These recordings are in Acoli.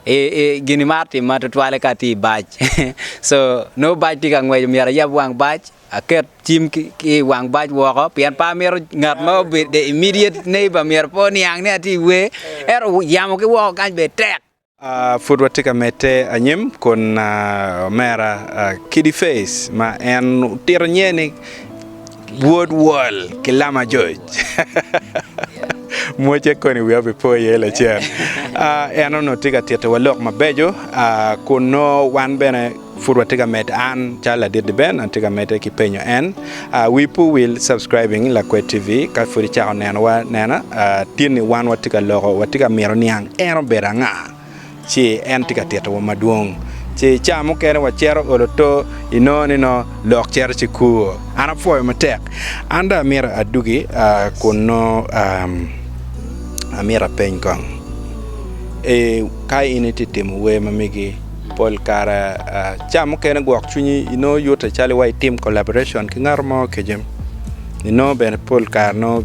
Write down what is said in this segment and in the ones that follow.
I, i gin imaro timma tutwalle ka atye i bac. so, nongo bac tye ka ngweco, myero ayab wang bac, aket cim ki, ki i wang bac woko, pien pe amito ngat ma obedo the immediate neighbor myero pe oniang ni atye i wer. Ento yamo ki woko kany bene tek. Ah, pud watye ka medde anyim kun ah, omera ah, Kiddy Faze ma en otito nyer ni, Wod wol ki lama joc. Mocce koni wiya obipo iye lacen. Uh, en onongo tye ka titowa lok mabeco uh, kun nongo wan bene pud watye ka med an calo ladit ben atye ka mede ki penyo en uh, wi pu wil subscribing lakwed tv ka pud icako nenowa nena uh, tinni wan watye ka loko watye ka mito niang en obedo anga ci en tye ka titowa madwong. Ci i caa mukene wacero olo to, inongo ni nongo lok cito ci kur. An apwoyo matek. An dong amyero adugi kun nongo amyero apeny kong. Ka in itye ka timo wer ma megi, pol kare caa mukene gwok cwinyi inongo yute calo iwaco itim collaboration ki ngat mo keken. Inongo bene pol kare nongo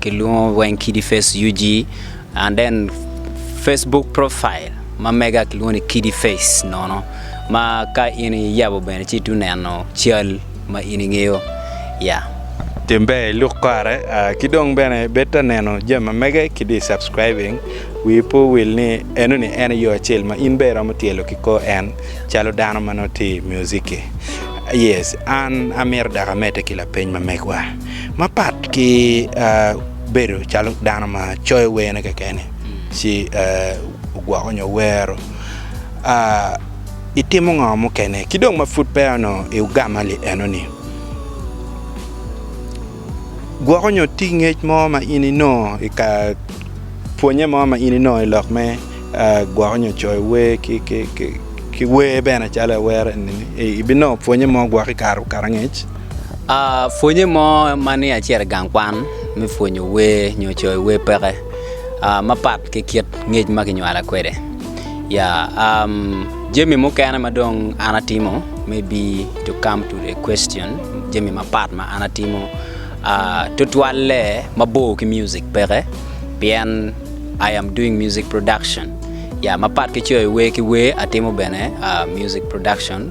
Kilwongo weng kidi face UG and then Facebook profile ma mega kilwongo ni kidi face nono ma ka in iyabo bene ci itu neno cal ma in ingeyo ya. Tim ber iluk kare ki dong bene bed ta neno jami ma mege kidi subscribing wii pe owil ni eno ni en aye yo acel ma in bene iromo tyelo ki kor en calo dano ma nongo tye i music-ki. Yes an amito dok amedde ki lapeny ma megwa. Mapat ki bedo calo dano ma coyo wene kekeni ci ogwoko nyo wero, itimo ngo mukene? Ki dong ma pud peya onongo i ugama li eno ni, gwoko nyo tye ki ngec mo ma in inongo i ka pwonye mo ma in inongo i lok me gwoko nyo coyo wer ki wer bene calo awero enini ibinongo pwonye mo gwok i kare angec? Pwonye mo ma ni acito i gang kwan me pwonyo wer nyo coyo wer peke mapat ki kit ngec ma kinywala kwede ya jami mukene ma dong an atimo me bi to kam to the question jami mapat ma an atimo tutwalle mabor ki mucik peke pien I am doing music production ya mapat ki coyo wer ki wer atimo bene music production.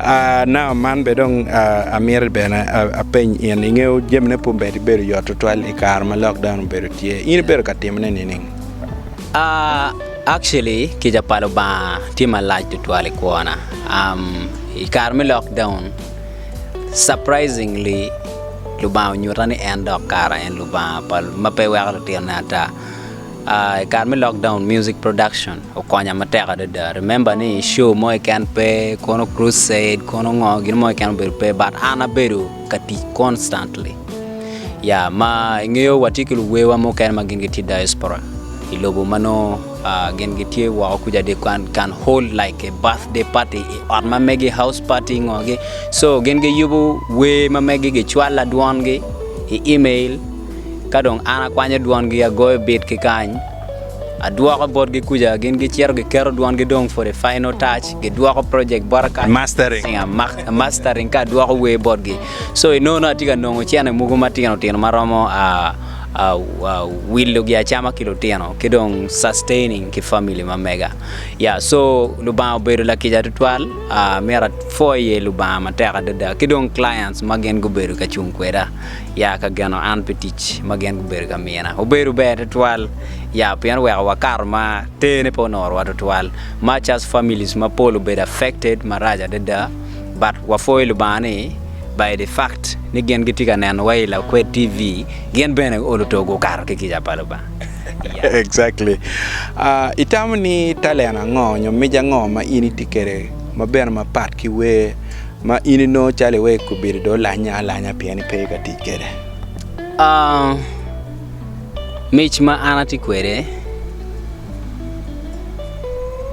Aa, nao man bene dong amito bene apeny in, ingeyo jamine pud bene bedo yot tutwal i kare ma lockdown obedo tye, in ibedo ka timone nining? Uh, actually, kica pa Lubanga tye malac tutwal i kwona. Um, i kare me lockdown, surprisingly, Lubanga onyuta ni en dok kara en Lubanga pa, ma pe weko lutinone ata. Aah i kare me lockdown music production okonya matek adada. Remember ni show mo keken pe, kono crusade, kono ngo, gin mo keken obedo pe but an abedo ka tic constantly. Ya, ma ingeyo watye ki luwewa mukene ma gin gitye diaspora i lobo ma nongo ah, gin gitye woko kuca they can, can hold like a birthday party i ot ma megi house party ngo gi. So gin giyubo wer ma megi gicwalla dwongi i email Ka dong an akwanyo dwongi agoyo bit ki kany, adwoko botgi kuca, gin gicito giketo dwongi dong for the final touch, gidwoko project bota kany, mastering, mastering ka adwoko wer botgi. So i nono atye ka nongo cene mogo matino tino maromo a a a wilo gi acama ki lutino ki dong sustaining ki family ma mega yeah so lubanga obedo lakica tutwal uh, myero afo iye lubanga matek adada ki dong clients ma gin gubedo ka cung kweda ya ka geno an pi tic ma gin gubedo ka mina. Obedo ber tutwal ya pien oweko wakato ma tene pe onorowa tutwal. Much as families mapol obedo affected marac adada but wapwoyo Lubanga ni by the fact ni gin gitye ka neno wa i Lakwed TV gin bene olo to gukato ki kica pa Lubanga. Ya. Exactly. Ah, itamo ni talent ango nyo mic ango ma in itye kwede ma bene mapat ki wer? ma in inongo calo iweko obedo do lanya alanya pien ipe ka tic kede? Uh, mic ma an ati kwede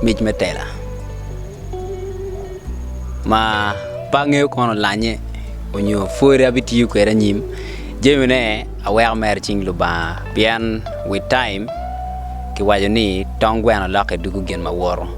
mic me tela ma pe angeyo kono lanye onyo pwod abitiyo kwede anyim jamine aweko mere i cing Lubanga pien with time kiwaco ni tong gweno lokke dwogo gin ma woto.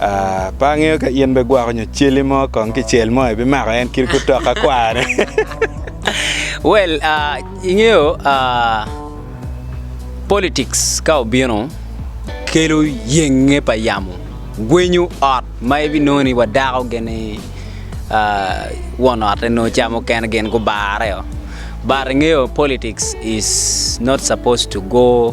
Ah, pe angeyo ka in bigwoko nyo celi mo kong ki cel mo ibimako en kit gutoka kwane. well, uh, ingeyo uh, politics ka obino kelo yenge pa yamo gwenyo ot ma ibinongo ni wadako gini uh, won otte no camo kene gin gubareo but ingeyo politics is not supposed to go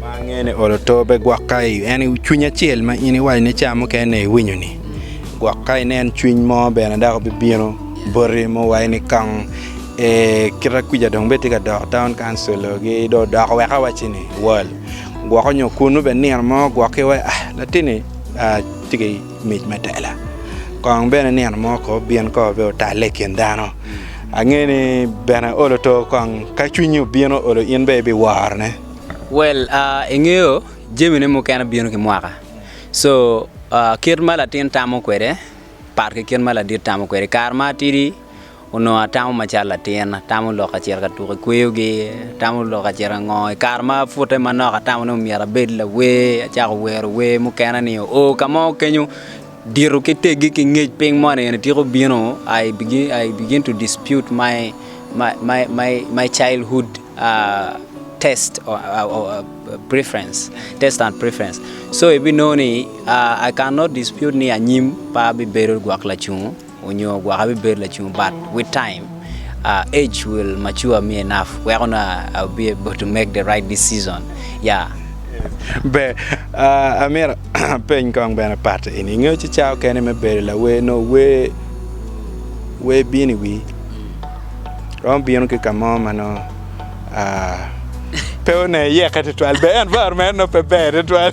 ma angeyo ni olo to pe gwok ka en cwiny acel ma in iwaco ni ca mukene iwinyo ni gwok ka inen cwiny mo bene dok bibino boti ma owaco ni kong kita kwica dong bene tye ka dok taun kancil gi dong odoko wek awacci ni wal gwoko nyo kunu bene nino mo gwoki wa latinni tye ki Mic me tela. Kong bene nino mo ko obin ko be otalle i kin dano. Angeyo ni bene olo to kong ka cwinyi obino olo in be ibiworo ne. Well uh, ingeyo jami ne mukene bino ki mwaka. So uh, kit ma latin tamo kwede pat ki kit ma ladit tamo kwede. Kare ma atidi Onongo atamo macalo latin, atamo lok ka cito ka tuko i kweyogi, atamo lok ka cito ka ngo. I kare ma apute manok atamo ni myero abed lawer, acako wero wer mukene ni oo ka mo kenyo dito ki teggi ki ngec piny moni eni tika obino I begin I begin to dispute my my my my my childhood uh test or uh preference test and preference so ibinongo ni uh I can not dispute ni anyim pe abibedo gwok lacungo onyo gwok abibedo lacung but with time uh, age will mature me enough wek onongo I'll be able to make the right decision yeah Ber, uh, amito apeny kong bene pat eni, ingeyo ci cawa okene me bedo lawer nongo wer wer bino i wii romo bino ki ka mo ma nongo uh, pe one yeke tutwal ber environment nongo pe ber tutwal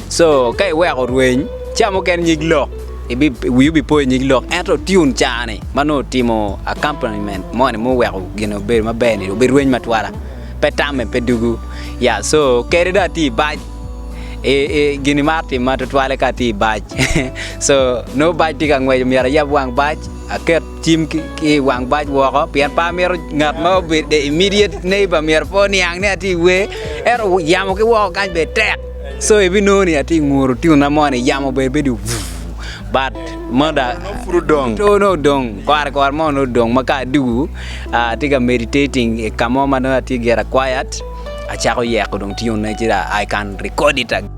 Co, ka iweko rweny, ca mukene nyig lok, ibi, wi obi po i nyig lok, ento tune cani ma nongo otimo accompaniment mo ni muweko gine obedo maber ni obi rweny matwala. Pe tamme, pe dugu. Ya, so, kede do ati i bac, i, i, gini mar timma twatwale ka ati i bac. so, nongo bac ti ka ngweco, myero ayab wang bac, aket cim ki, ki i wang bac woko, pien pe amito ngat ma obedo the immediate neighbour myero pe oniang ni ati i wer, ento yamo ki woko kany bene tek. So ibinongo ni atye nguru tyuna mo ni yamo ber bedo but moda to no odong kware kware mo no odong ma ka adugu atye ka meditating i ka mo ma nongo atye gira quiet acako yeko dong tyuna ci da I can record it again.